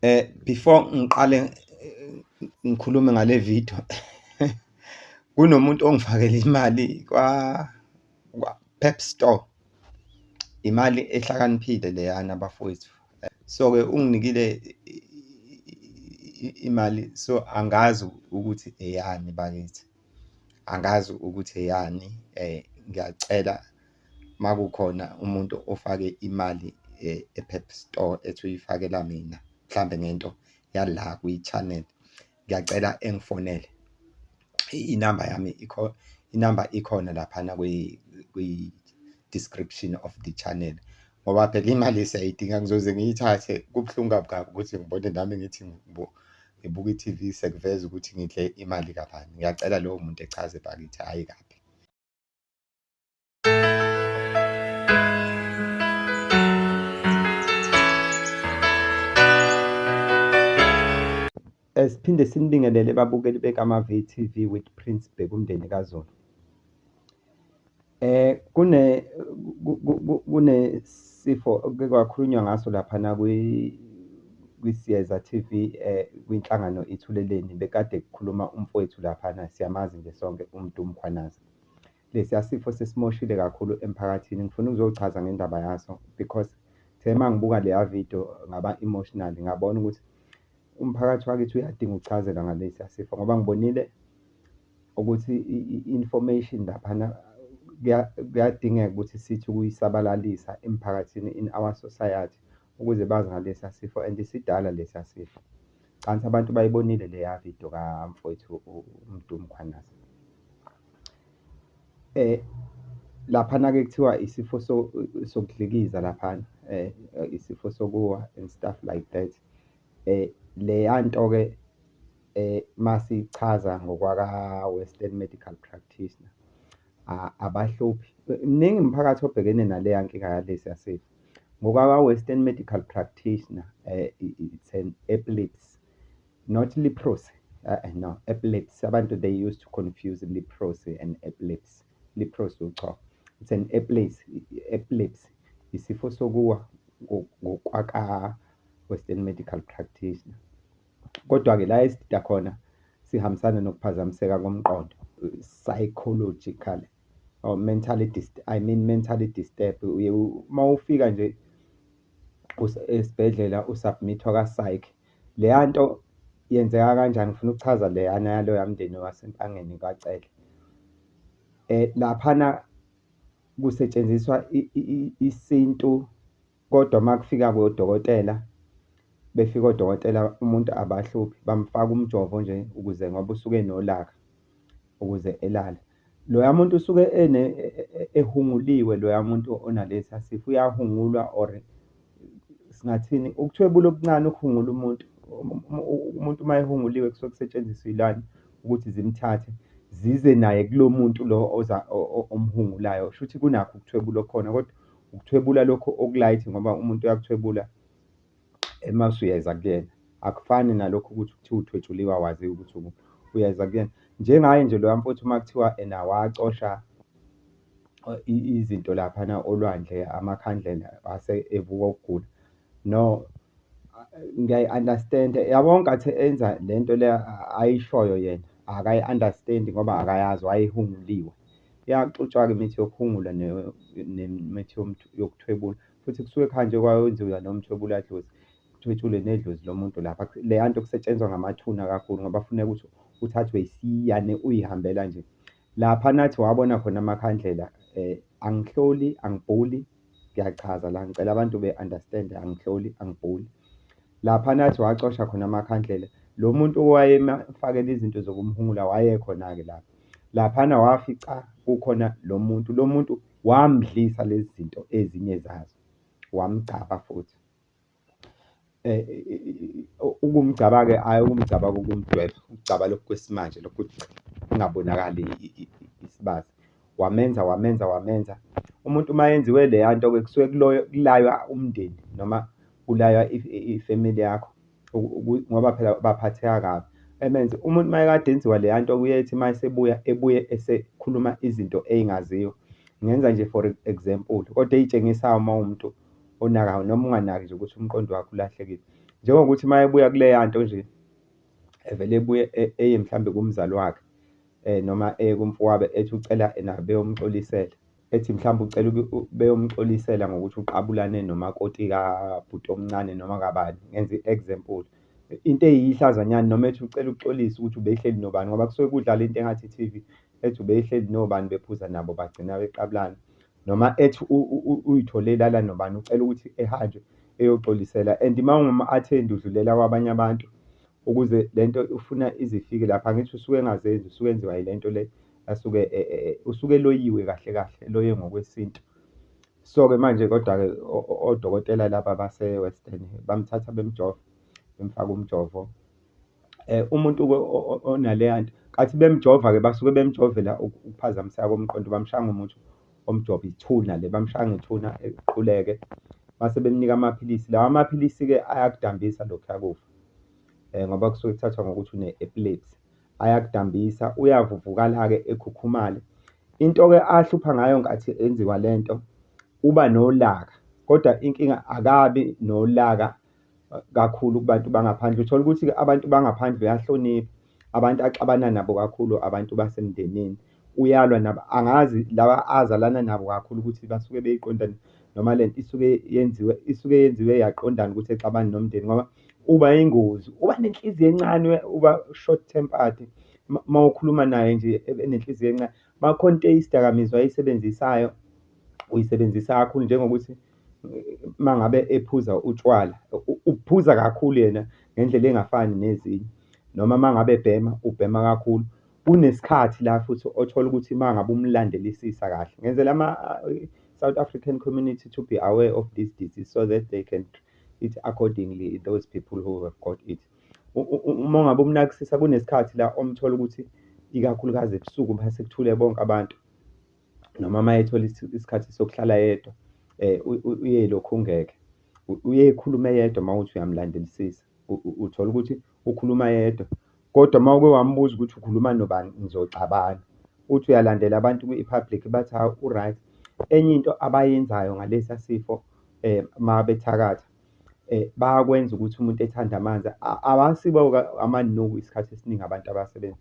Eh before ngiqale ngikhulume ngale video kunomuntu ongifakele imali kwa kwa Pep Store imali ehlakaniphile leyana bafowethu so ke unginikile imali so angazi ukuthi eyani bakithi angazi ukuthi eyani eh ngiyacela makukhona umuntu ofake imali e-Pep Store ethi uyifakela mina mhlambe ngento yala kwi-channel ngiyacela engifonele inamba yami ikho inamba ikhona laphana kwi-description of the channel ngoba phela imali siyayidinga ngizoze ngiyithathe kubuhlungu kabi kabi ukuthi ngibone nami ngithi ngibuka i-TV sekuveza ukuthi ngidle imali kabani ngiyacela lowo muntu echaze bakithi hhayi kabi. Siphinde sinibingelele babukeli bekaMaVTV with Prince Bheka umndeni kaZulu. Eh kune kunesifo okuke kwakhulunywa ngaso laphana kwi kwiSiyeza TV eh kwinhlangano Ithuleleni bekade kukhuluma umfowethu laphana siyamazi nje sonke uMdu Mkhwanazi. Lesiya sifo sisimoshile kakhulu emphakathini ngifuna ukuzochaza ngendaba yaso because the mangibuka leya video ngaba emotional ngabona ukuthi umphakathi wakithi uyadinga ukuchazelwa ngalesiya sifo ngoba ngibonile ukuthi i-information laphana kuyadingeka ukuthi sithi ukuyisabalalisa emphakathini in our society ukuze bazi ngalesa sifo and sidala lesa sifo. Cansi abantu bayibonile leya video kamfowethu uMdu Mkhwanazi. Eh laphana-ke kuthiwa isifo sokudlikiza laphana eh isifo sokuwa and stuff like that. Eh leya nto-ke eh masichaza ngokwaka Western Medical Practitioner abahluphi. Mningi umphakathi obhekene naleya nkinga yalesi yasifo. NgokwabaWestern Medical Practitioner, it's an epilepsy, not leprosy, no, epilepsy, abantu they used to confuse leprosy and epilepsy, leprosy uqhwa, it's an epilepsy, epilepsy, isifo sokuwa ngokwaka-Western Medical Practitioner. Kodwa-ke la esidida khona sihambisana nokuphazamiseka komqondo, psychological or mentally I mean mentally disturbed. Uye uma ufika nje esibhedlela u-submit-wa ka-psych. Leya nto yenzeka kanjani? Ngifuna ukuchaza leyana yaloya mndeni waseNtangeni kwaCele. Laphana kusetshenziswa isintu Kodwa makufika kodokotela befika odokotela umuntu abahluphi bamfaka umjovo nje ukuze ngoba usuke enolaka ukuze elale. Loya muntu usuke ene e- e- e- ehunguliwe loya muntu onalesa sifo uyahungulwa or singathini ukuthwebula okuncane ukuhungula umuntu Um- um- u- umuntu uma ehunguliwe kusuke kusetshenziswa iy'lwane ukuthi zimthathe zize naye kulo muntu lo oza o- o- omhungulayo. Shuthi kunakho ukuthwebula okukhona kodwa Ukuthwebula lokhu okulight ngoba umuntu uyakuthwebula uma usuyeza kuyena. Akufani nalokhu ukuthi kuthiwa uthwetshuliwe awaziwa ukuthi ukuphi, uyeza kuyena. Njengaye nje loya mfowethu uma kuthiwa ena wacosha izinto laphana olwandle, amakhandlela wase evuka ukugula, no ngiyayi-understand-a. Yabo ngenkathi enza le nto le ayishoyo yena akayi-understand-i ngoba akayazi wayehumuliwe. Iyaxutshwa-ke imithi yokuphungula nemithi yokuthwebula, futhi kusuke kuhanjwe kwayonziwa lowo mthwebuladlozi, kuthwetshulwe nedlozi lomuntu lapha. Leya nto kusetshenzwa ngamathuna kakhulu ngoba kufuneka ukuthi uthathwe isiyane uyihambela nje. Lapha nathi wabona khona amakhandlela angihloli, angibhuli, ngiyachaza la, ngicela abantu be-understand-e, angihloli, angibhuli. Lapha nathi wacosha khona amakhandlela, lo muntu owayemfakela izinto zokumhungula wayekhona-ke lapho. Laphana wafica kukhona lo muntu, lo muntu wamdlisa lezi zinto ezinye zazo, wamgcaba futhi. Ukumgcaba-ke hhayi ukumgcaba kokumdweba, ukugcaba lokhu kwesimanje lokhu ukuthi kungabonakali isibaya. Wamenza, wamenza, wamenza. Umuntu uma enziwe leya nto-ke kusuke kulaywa umndeni noma kulaywa ifemeli yakho ngoba phela baphatheka kabi. Emenze umuntu uma ekade enziwa leya nto kuye ethi uma esebuya ebuye esekhuluma izinto ey'ngaziwa. Ngenza nje for example, kodwa ey'tshengisayo uma uwumuntu onakayo noma unganaki nje ukuthi umqondo wakho ulahlekile. Njengokuthi uma ebuya kuleya nto nje, evele ebuye eye mhlawumbe kumzali wakhe noma eye kumfowabo ethi ucela ena beyomuxolisela. ethi mhlawumbe ucela beyomxolisela ngokuthi uqabulane nomakoti kabhuti omncane noma kabani, ngenza i-example. Into eyihlazo nyana noma ethi ucela ukuxolisa ukuthi ubehleli nobani ngoba kusuke kudlala into engathi i-T_V, ethi ubehleli nobani bephuza nabo bagcina beqabulana. Noma ethi uy'thole elala nobani, ucela ukuthi ehanjwe eyoxolisela and uma ungumu-athendi udlulela kwabanye abantu. ukuze lento ufuna izifike lapha ngithi usuke engazenzi usuke enziwa yilento le asuke e, e, e, usuke eloyiwe kahle kahle loye ngokwesintu so ke manje kodwa ke odokotela laba base Western bamthatha bemjova bemfaka umjovo eh umuntu onaleya nto kathi bemjova ke basuke bemjovela ukuphazamiseka komqondo bamshanga umuthi omjovo ithuna le bamshanga ithuna equleke base bemnika amaphilisi lawa amaphilisi ke ayakudambisa lokhu yakufa ngoba kusuke kuthathwa ngokuthi une-epilepsy. Ayakudambisa, uyavuvukala-ke ekhukhumale. Into-ke ahlupha ngayo ngenkathi enziwa le nto, uba nolaka kodwa inkinga akabi nolaka kakhulu kubantu bangaphandle. Uthole ukuthi-ke abantu bangaphandle uyahlonipha. abantu axabana nabo kakhulu abantu basemndenini. Uyalwa nabo, angazi laba azalana nabo kakhulu ukuthi basuke beyiqonda noma lento isuke yenziwe, isuke yenziwe yaqondana ukuthi exabane nomndeni ngoba uba yingozi. Uba nenhliziyo encane, uba short tempered, uma ukhuluma naye nje ebe nenhliziyo encane. Uma kukhona into eyidakamizwa ayisebenzisayo, uyisebenzisa kakhulu njengokuthi uma ngabe ephuza utshwala, uphuza kakhulu yena ngendlela engafani nezinye, noma uma ngabe ebhema, ubhema kakhulu. Kunesikhathi la futhi othola ukuthi uma ngabe umlandelisisa kahle, ngenzela ama-South African community to be aware of this disease so that they can treat accordingly those people who have got it. Uma ngabe umnakisisa kunesikhathi la omthola ukuthi ikakhulukazi ebusuku uma sekuthule bonke abantu noma uma ethola isikhathi sokuhlala yedwa uye elokhu ungeke. Uye ekhulume yedwa uma uthi uyamlandelisisa, uthola ukuthi ukhuluma yedwa kodwa uma uke wambuza ukuthi ukhuluma nobani nizocabana. Uthi uyalandela abantu kwi-public bathi hhawu u-right. Enye into abayenzayo ngalesa sifo uma bethakatha bayakwenza ukuthi umuntu ethande amanzi. Abasibo amanuku isikhathi esiningi abantu abasebenza,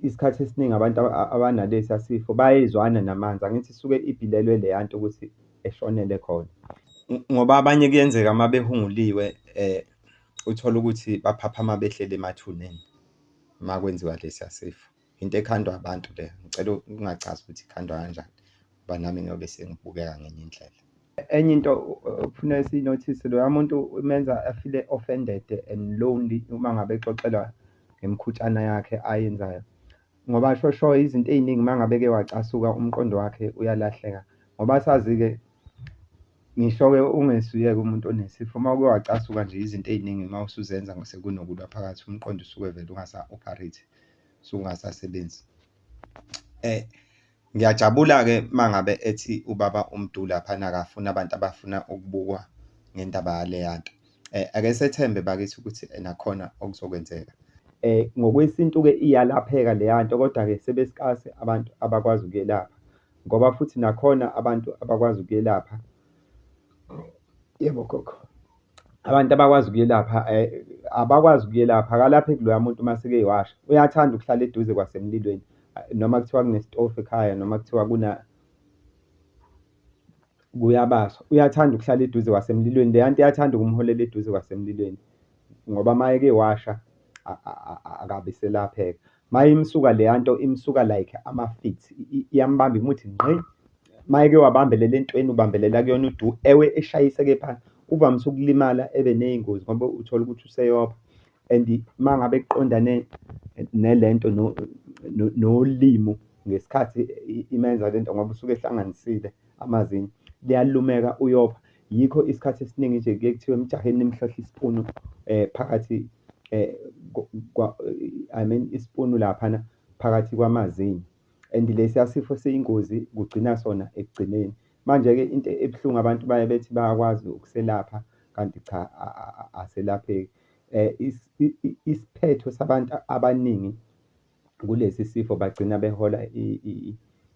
isikhathi esiningi abantu abanalesiya sifo bayezwana namanzi, angithi isuke ibhilelwe leya nto ukuthi eshonele khona. Ngoba abanye kuyenzeka uma behunguliwe uthole ukuthi baphaphama behleli emathuneni uma kwenziwa lesiya sifo. into ekhandwa abantu le ngicela ukungachazi ukuthi ikhandwa kanjani ngoba nami ngiyobe sengibukeka ngenye indlela enye into ufuna siyinothise loya muntu umenza afile offended and lonely uma ngabe exoxelwa ngemkhutshana yakhe ayenzayo ngoba shosho izinto ey'ningi uma ngabe ke wacasuka umqondo wakhe uyalahleka ngoba sazi-ke ngisho-ke ungesuyeke umuntu onesifo uma uke wacasuka nje izinto ey'ningi uma usuzenza sekunokulwa phakathi umqondo usuke vele ungasa-operate sungasasebenzi eh ngiyajabula-ke uma ngabe ethi ubaba uMdu laphana akafuni abantu abafuna ukubukwa ngendaba yaleya nto. Eh, ake sethembe bakithi ukuthi nakhona okuzokwenzeka. Eh, ngokwesintu-ke iyalapheka leya nto, kodwa-ke sebesikase abantu abakwazi ukuyelapha ngoba futhi nakhona abantu abakwazi ukuyelapha. Yebo, gogo. Abantu abakwazi ukuyelapha abakwazi ukuyelapha, akalapheki loya muntu uma eseke washa. Uyathanda ukuhlala eduze kwasemlilweni noma kuthiwa kunesitofu ekhaya noma kuthiwa kuna kuyabaswa, uyathanda ukuhlala eduze kwasemlilweni. Leya nto iyathanda ukumholela eduze kwasemlilweni ngoba uma eke washa akabe eselapheka. Mayimsuka leyanto imsuka like amafithi iyambamba imuthi ngqi mayeke wabambelela entweni ubambelela kuyona udu ewe eshayiseke phansi uvamise ukulimala ebe neyingozi ngoba uthola ukuthi useyopha and mangabe kuqondane nelento nolimu ngesikhathi imenza lento ngoba usuke ehlanganisile amazinyo liyalumeka uyopha. Yikho isikhathi esiningi nje kuye kuthiwe emjaheni nimhlohle isipunu eh phakathi eh kwa I mean isipunu laphana phakathi kwamazinyo and lesiya sifo siyingozi kugcina sona ekugcineni. Manje-ke into ebuhlungu abantu baye bethi bayakwazi ukuselapha kanti cha aselapheki. Isiphetho sabantu abaningi kulesi sifo bagcina behola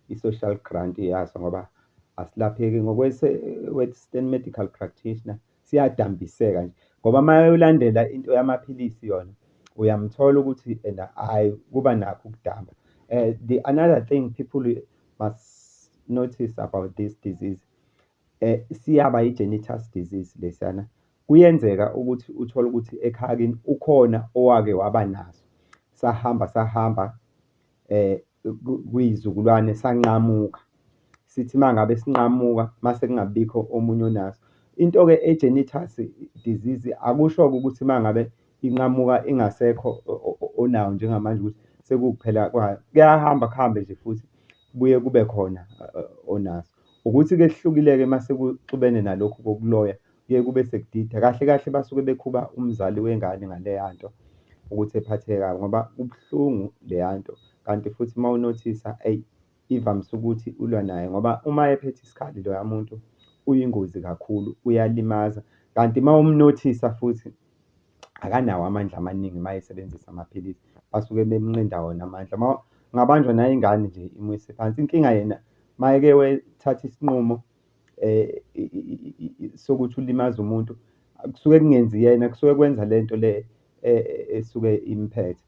i-social grant yaso ngoba asilapheki ngokwe-western medical practitioner siyadambiseka nje ngoba uma ulandela into yamaphilisi yona uyamthola ukuthi ena hhayi kuba nakho ukudamba um the another thing people must notice about this disease Siyaba i-genitus disease lesiyana, kuyenzeka ukuthi uthole ukuthi ekhaya kini ukhona owake waba naso, sahamba sahamba kwiy'zukulwane sanqamuka. Sithi uma ngabe sinqamuka uma sekungabibikho omunye onaso. Into-ke e-genitus disease akusho-ke ukuthi uma ngabe inqamuka ingasekho onawo njengamanje ukuthi sekuwukuphela kwayo. Kuyahamba kuhambe nje futhi kubuye kube khona onaso. Ukuthi ke kuhlukileke masekuxubene nalokhu kokuloya kuye kube sekudida kahle kahle basuke bekhuba umzali wengane ngaleyanto ukuthi ephatheke kabi ngoba kubuhlungu leyanto kanti futhi uma unothisa eyi ivamise ukuthi ulwa naye ngoba uma ephethe isikhali loya muntu uyingozi kakhulu uyalimaza kanti uma umnothisa futhi akanawo amandla amaningi uma esebenzisa amaphilisi basuke bemnqinda wona amandla. Uma ngabanjwa nayo ingane nje imuyise phansi. Inkinga yena uma eke wethatha isinqumo sokuthi ulimaze umuntu kusuke kungenzi yena kusuke kwenza le nto le esuke imphethe.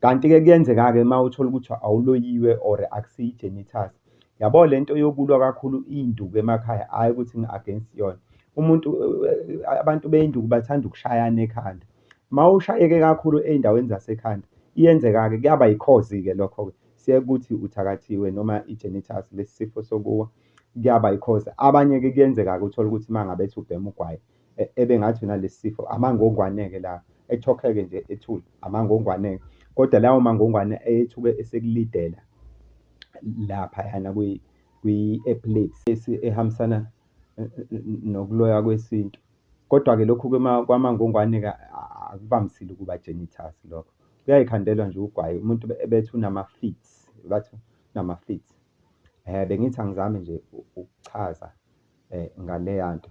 Kanti-ke kuyenzeka-ke uma uthola ukuthi awuloyiwe or akusiyo i-genitalia. Yabo le nto yokulwa kakhulu iy'nduku emakhaya hhayi ukuthi ngi-against yona. Umuntu abantu bey'nduku bathanda ukushayana ekhanda. Uma ushayeke kakhulu ey'ndaweni zasekhanda, iyenzeka-ke kuyaba yikhozi-ke lokho-ke. Kusiya kuthi uthakathiwe noma i-genitals, lesi sifo sokuwa, kuyaba yikhozi. Abanye-ke kuyenzeka-ke uthole ukuthi uma ngabe ethi ubhema ugwayi, e, ebengathi unalesi sifo amangongwane-ke la ethokheke nje ethule amangongwane kodwa lawo mangongwane ayethuke esekulidela laphayana kwi-epilepsy ehambisana e, e, nokuloya kwesintu kodwa-ke lokhu kwamangongwane-ke akuvamisile ukuba genitas lokho kuyayikhandelwa nje ugwayi umuntu ebethi unama-fits bathi unama-fits um bengithi angizame nje ukuchaza um ngaleya nto